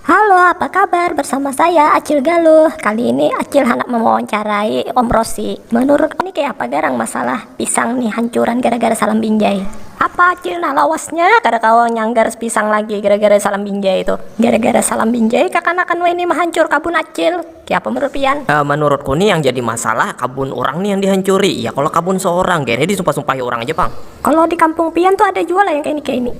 Halo apa kabar bersama saya acil galuh kali ini acil handak mewawancarai om rosi menurut ini kaya apa garang masalah pisang nih hancuran gara gara salam binjai apa acil nah lawasnya kada kawa nyanggar pisang lagi gara gara salam binjai tuh gara gara salam binjai kakanakan wahini mahancur kabun acil kaya apa menurut pian. Menurutku nih yang jadi masalah kabun urang nih yang dihancuri ya kalo kabun seorang kayanya disumpah sumpahi urang aja pang. Kalo di kampung pian tuh ada jua lah yang kaya ini kaya ini.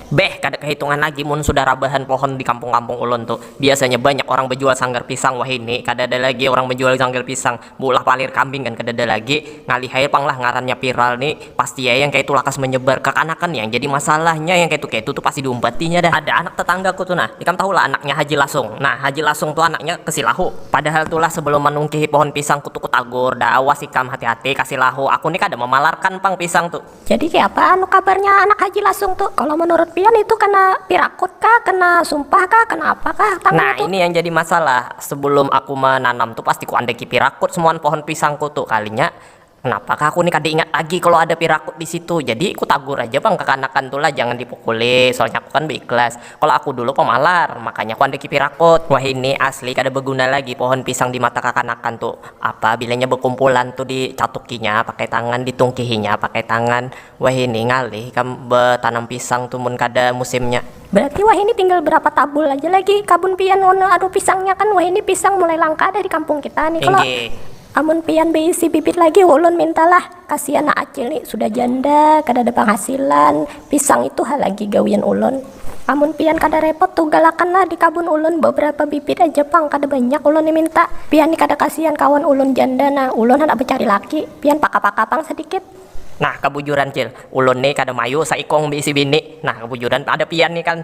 Beh, kada kahitungan lagi mun sudah rabahan pohon di kampung-kampung ulun tu. Biasanya banyak orang bajual sanggar pisang, wahini kadada lagi orang bajual sanggar pisang. Beulah palir kambing gin kadada lagi. Ngalih ai pang lah ngarannya viral ni. Pasti ai yang kayatu lakas menyebar. Kakanakan yang jadi masalahnya, yang kayatu-kayatu tu pasti diumpatinya dah. Ada anak tetangga ku tu nah, ikam tahu lah anaknya Haji Lasung. Nah, Haji Lasung tu anaknya ke Silahu. Padahal tu lah sebelum manungkihi pohon pisang ku tu ku tagur, dah awas ikam hati-hati ka Silahu, aku ni kada memalarkan pang pisang tu. Jadi kaya apa anu kabarnya anak haji lasung tu kalo menurut pian itu kena pirakut kah kena sumpah kah kena apa kah tangnya Nah tu. ini yang jadi masalah sebelum aku menanam tu pasti ku andeki pirakut semuan pohon pisang ku tu kalinya kenapa kah aku ni kada ingat lagi kalo ada pirakut disitu jadi ku tagur aja pang kekanakan tu lah jangan dipukuli soalnya aku kan beikhlas. Kalo aku dulu pamalar, makanya ku andaki pirakut. Wahini asli kada baguna lagi pohon pisang di mata kakanakan tu. Apa bilanya bakumpulan tu di catukinya pakai tangan, di tungkihinya pakai tangan. Wahini ngalih ikam batanam pisang tu mun kada musimnya. Berarti wahini tinggal berapa tabul aja lagi kabun pian wan anu pisangnya kan wahini pisang mulai langka dah di kampung kita ni. Kalo amun pian baisi bibit lagi ulun minta lah. Kasian nak acil ni sudah janda kadada panghasilan, pisang itu ha lagi gawian ulun. Amun pian kada repot tuh galakan lah di kabun ulun babarapa bibit aja pang kada banyak ulun ni minta. Pian ni kada kasian kawan ulun janda nah, ulun handak bacari laki, pian paka-paka pang sadikit. Nah kabujuran cil, ulun ni kada mayu saikung baisi bini, nah kabujuran ada pian ni kan.